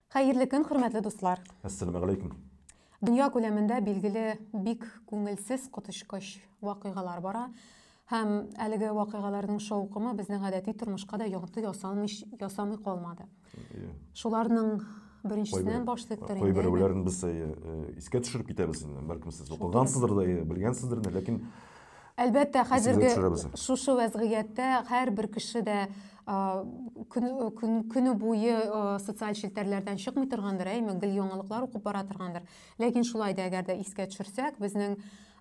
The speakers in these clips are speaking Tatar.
Хәерле көн, хөрмәтле дуслар. Әссәламу алейкум. Дөнья күләмендә билгеле бик күңелсез коточкыч вакыйгалар бара. Һәм әлеге вакыйгаларның шаукымы безнең гадәти тормышка да йогынты ясалмый ясамый калмады. Иә. Шуларның беренчесеннән башлыйк тор инде. Кайберәүләрен без искә төшереп китәбез инде. Бәлкем сез укыгансыздыр да, белгәнсездер инде, ләкин Әлбәттә, хәзерге шушы вәзгыятьтә һәрбер кеше дә көне буе социаль челтәрләрдән чыкмый торгандыр, әйме, гел яңалыклар укып бара торгандыр. Ләкин шулай да әгәр дә искә төшерсәк, безнең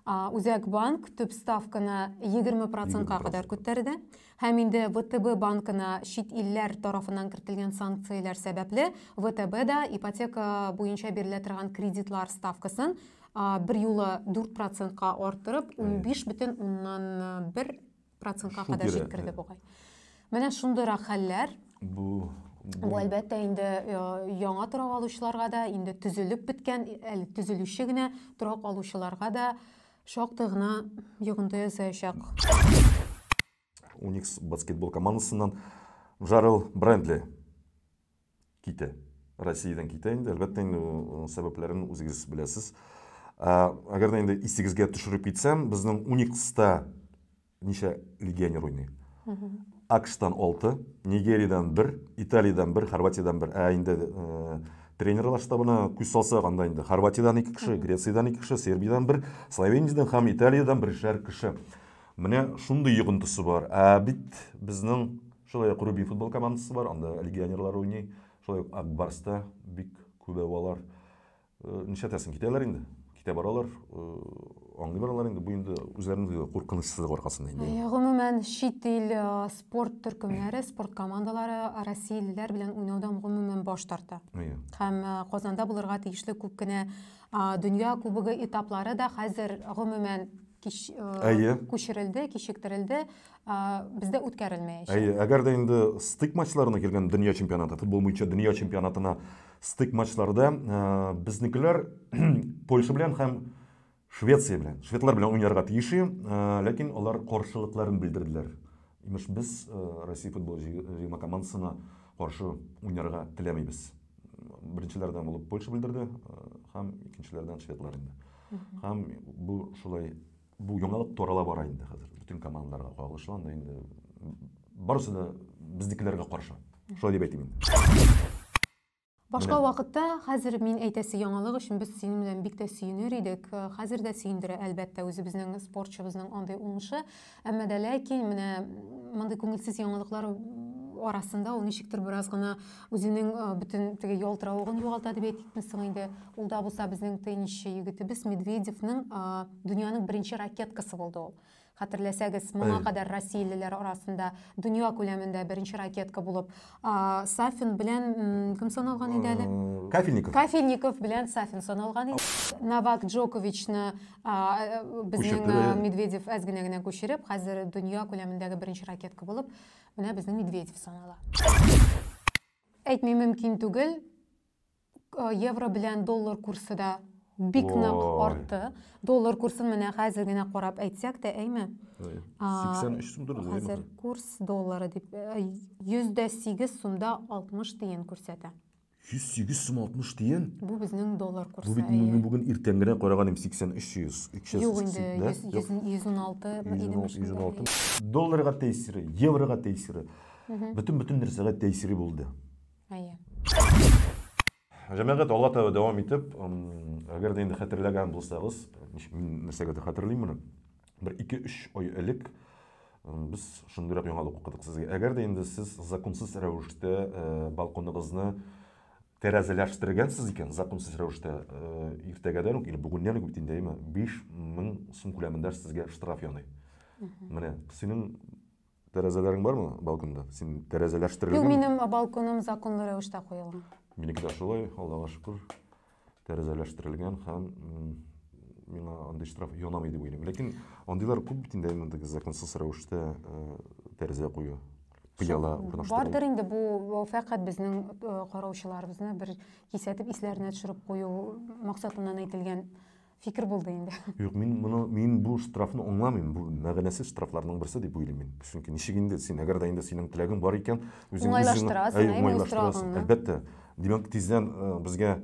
Үзәк банк төп ставканы 20%-ка кадәр күтәрде. Һәм инде ВТБ банкына чит илләр тарафыннан кертелгән санкцияләр сәбәпле, ВТБ да ипотека буенча бирелә торган кредитлар ставкасын берьюлы 4 процентка артырып, 15,1 процентка кадәр җиткерде бугай. Менә шундыйрак хәлләр. Бу Бу әлбәттә инде э, яңа торак алучыларга да, инде төзелеп беткән, әле төзелүче генә торак алучыларга да Шактый гына йогынты ясаячак. Уникс баскетбол командасыннан Жарел Брендли китә. Россиядән китә инде. Әлбәттә, инде сәбәпләрен үзегез беләсез. Әгәр дә инде исегезгә төшереп китсәм, безнең Уникста Ничә легионер уйный? АКШтан 6, Нигериядән 1, Италиядән 1, Хорватиядән 1. Ә инде э, тренерлар штабына күз салсак, анда инде Хорватиядән 2 кеше, Грециядән 2 кеше, Сербиядән 1, Словениядән һәм Италиядән бершәр кеше. Менә шундый йогынтысы бар. Ә бит безнең шулай ук Рубин футбол командасы бар, анда легионерлар уйный. Шулай ук Акбарста бик күбәвалар. Э, нишләтәсең, китәләр инде. Китә баралар, э, аңлыйлар алар инде. Бу инде үзләренең куркынычсызлык аркасында инде. Ә, гомумән, чит ил э, спорт төркемнәре, спорт командалары россиялеләр белән уйнаудан гомумән баш тарта. Әйе. Һәм Казанда булырга тиешле күп кенә дөнья кубогы этаплары да хәзер гомумән кич, Әйе. күчерелде, кичектерелде, бездә үткәрелмәячәк. Әйе, әгәр дә инде стык матчларына килгән дөнья чемпионаты, футбол буенча дөнья чемпионатына стык матчларда безнекеләр Польша белән һәм Швеция белән, шведлар белән уйнарга тиеш, ләкин алар каршылыкларын белдерделәр. Имеш, без Россия футбол җыелма командасына каршы уйнарга теләмибез. Беренчеләрдән булып Польша белдерде һәм икенчеләрдән шведлар инде. Һәм бу шулай Бу яңалык тарала бара инде хәзер. Бөтен командаларга кагылышлы анда инде барысы да безнекеләргә каршы. Шулай дип әйтим инде. Башка вакытта хәзер мин әйтәсе яңалык өчен без синең белән бик тә сөенер идек. Хәзер дә сөендерә, әлбәттә, үзебезнең спортчыбызның андый уңышы. Әмма дә ләкин менә мондый күңелсез яңалыклар арасында ул ничектер бераз гына Үзенең бөтен теге ялтыравыгын югалта дип әйтикме соң инде. Ул да булса безнең теннисчы егетебез Медведевның дөньяның беренче ракеткасы булды ул. Хәтерләсәгез, моңа кадәр россиялеләр арасында дөнья күләмендә беренче ракетка булып Сафин белән кем саналган иде әле? Кафельников. Кафельников белән Сафин саналган иде. Новак Джоковичны безнең Медведев әз генә генә күчереп, хәзер дөнья күләмендәге беренче ракетка булып Менә безне Медведев санала. Әйтми мөмкин түгел. Э, евро белән доллар курсы да бик нык артты. Доллар курсын менә хәзер генә карап әйтсәк тә, әйме? 83 сум торды. Хәзер курс доллары дип 108 э, сумда 60 тиен күрсәтә. 108 сум 60 тиен. Бу безнең доллар курсы. Бу бит мин бүген иртән генә караган идем 83 100. Юк инде 116 идем. 116. Долларга тәэсире, еврога тәэсире. Бөтен бөтен нәрсәгә тәэсире булды. Әйе. Җәмәгать алга таба дәвам итеп, әгәр дә инде хәтерләгән булсагыз, мин нәрсәгә дә хәтерлим моны. бер ике-өч ай элек без шундыйрак яңалык укыдык сезгә. Әгәр дә инде сез законсыз рәвештә балконыгызны тәрәзәләштергәнсез икән, законсыз рәвештә иртәгәдән үк, или бүгеннән үк бит инде, әйме, 5000 сум күләмендә сезгә штраф яный. Менә синең Тәрәзәләрең бармы балконда? Син Юк, тәрәзәләштерелгән. минем балконым законлы рәвештә куелган. Минеке дә шулай, Аллага шөкер, тәрәзәләштерелгән һәм м, миңа андый штраф янамый дип уйлыйм. Ләкин андыйлар күп бит инде әйе, теге законсыз рәвештә э, тәрәзә кую, пыяла урнаштыру. Бардыр инде бу бу фәкать безнең э, караучыларыбызны бер кисәтеп исләренә төшереп кую максатыннан әйтелгән Фикер булды инде. Юк, мин моны, мин бу штрафны аңламыйм. Бу мәгънәсез штрафларның берсе дип уйлыйм мин. Чөнки ничек инде син, әгәр дә инде синең теләгең бар икән, үзең уңайлаштырасың, әй, уңайлаштырасың. Әлбәттә. Димәк, тиздән э, безгә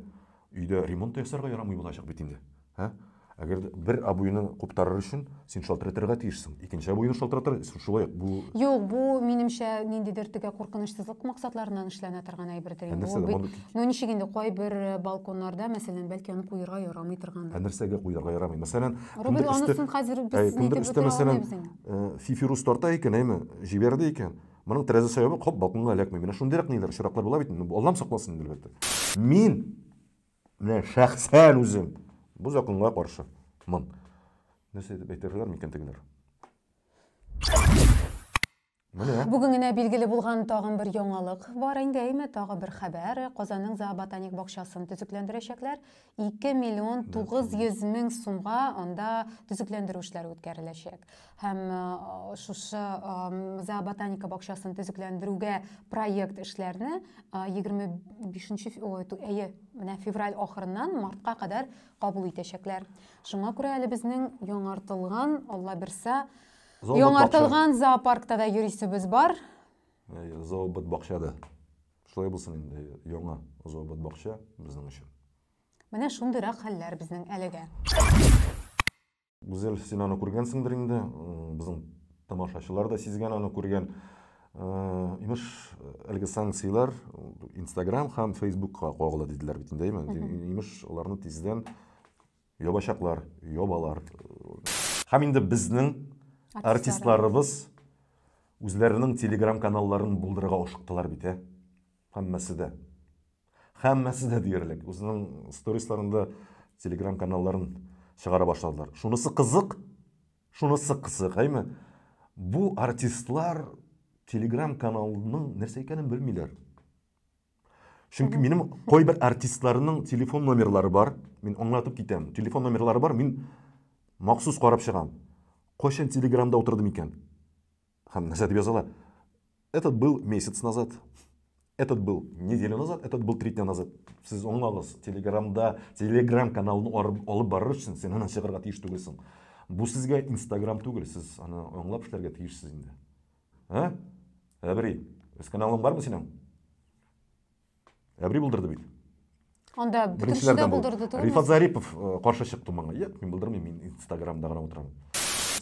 өйдә ремонт ясарга ярамый булачак бит инде. Һә? Әгәр бер обуйны куптарыр өчен Син шалтыратырга тиешсең. Икенче абыйны шалтыратыр, шулай ук бу... Юк, бу, минемчә, ниндидер тегә куркынычсызлык максатларыннан эшләнә торган әйбердер инде. Нәрсәгә моны... Ну, ничек инде, кайбер э, балконнарда, мәсәлән, бәлки аны куерга ярамый торган. Ә нәрсәгә куерга ярамый? Мәсәлән, Рубин, анысын хәзер без нитеп үтә алмыйбыз инде. Э, фифирус тарта икән, әйме, җибәрде икән. Моның тәрәзә сәбәбе хоп балконга эләкми. Менә шундыйрак ниләр, очраклар була бит. Аллам сакласын инде, әлбәттә. Мин Менә шәхсән үзем бу законга каршы. Мон. Нәрсә дип әйтерләр микән тегеләр? Менә. Бүген генә билгеле булган тагын бер яңалык бар инде, әйме, тагы бер хәбәр. Казанның зооботаник бакчасын төзекләндерәчәкләр. 2 миллион 900 мең сумга анда төзекләндерү эшләре үткәреләчәк. һәм шушы зооботаника бакчасын төзекләндерүгә проект эшләрне 25 әйе менә февраль ахырыннан мартка кадәр кабул итәчәкләр шуңа күрә әле безнең яңартылган алла бирса яңартылган зоопаркта да йөрисебез бар зообот бакчада шулай булсын инде яңа зообот бакча безнең өчен менә шундыйрак хәлләр безнең әлегә Гүзәл, син аны күргәнсеңдер инде, безнең тамашачылар да сизгән аны күргән. Имеш, әлеге санкцияләр Instagram һәм Facebookка кагыла диделәр бит инде, әйме? Имеш, аларны тиздән ябачаклар, ябалар. Һәм инде безнең артистларыбыз үзләренең телеграм-каналларын булдырырга ашыктылар бит, ә? Һәммәсе дә. Һәммәсе дә диярлек. Үзенең сторисларында телеграм каналларын чыгара башладылар. Шунысы кызык, шунысы кызык, әйме? Бу артистлар телеграм каналының нәрсә икәнен белмиләр. Чөнки минем кайбер артистларның телефон номерлары бар. Мин аңлатып китәм. Телефон номерлары бар, мин махсус карап чыгам. Кайчан телеграмда утырдым икән? Һәм нәрсә дип языла? Этот был месяц назад. Этот был неделю назад, этот был три дня назад. Сез аңлагыз, Телеграмда, Телеграм каналын алып барыр өчен сен аны чыгарга тиеш түгелсең. Бу сезгә Инстаграм түгел, сез аны аңлап эшләргә тиешсез инде. Ә? Әбри, үз каналың бармы синең? әбри булдырды бит анда бөтенесе дә булдырды түгелме рифат зарипов э, каршы чыкты маңа юк мин булдырмыйм мин инстаграмда гына утырамын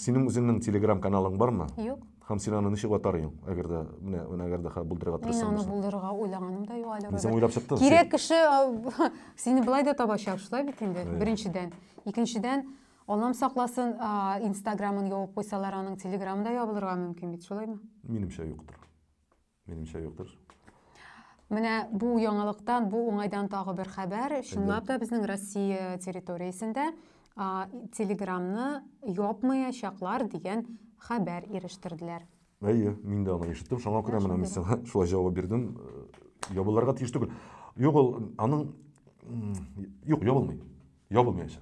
синең үзеңнең телеграм каналың бармы юк һәм син аны ничек атар идең әгәр дә менә менә әгәр дә булдырырга тырыссаң мин аны булдырырга уйлаганым да юк әле син уйлап чыктың кирәк кеше э, сине былай да табачак шулай бит инде беренчедән икенчедән аллам сакласын инстаграмын ябып куйсалар аның телеграмы да ябылырга мөмкин бит шулаймы минемчә юктыр Минемчә юктыр. Менә бу яңалыктан, бу уңайдан тагы бер хәбәр. Чынлап та безнең Россия территориясендә Телеграмны япмаячаклар дигән хәбәр ирештерделәр. Әйе, мин дә аны ишеттем. Шуңа күрә менә мин сиңа шулай җавап бирдем. Ябылырга тиеш түгел. Юк, ул аның юк, ябылмый. Ябылмаячак.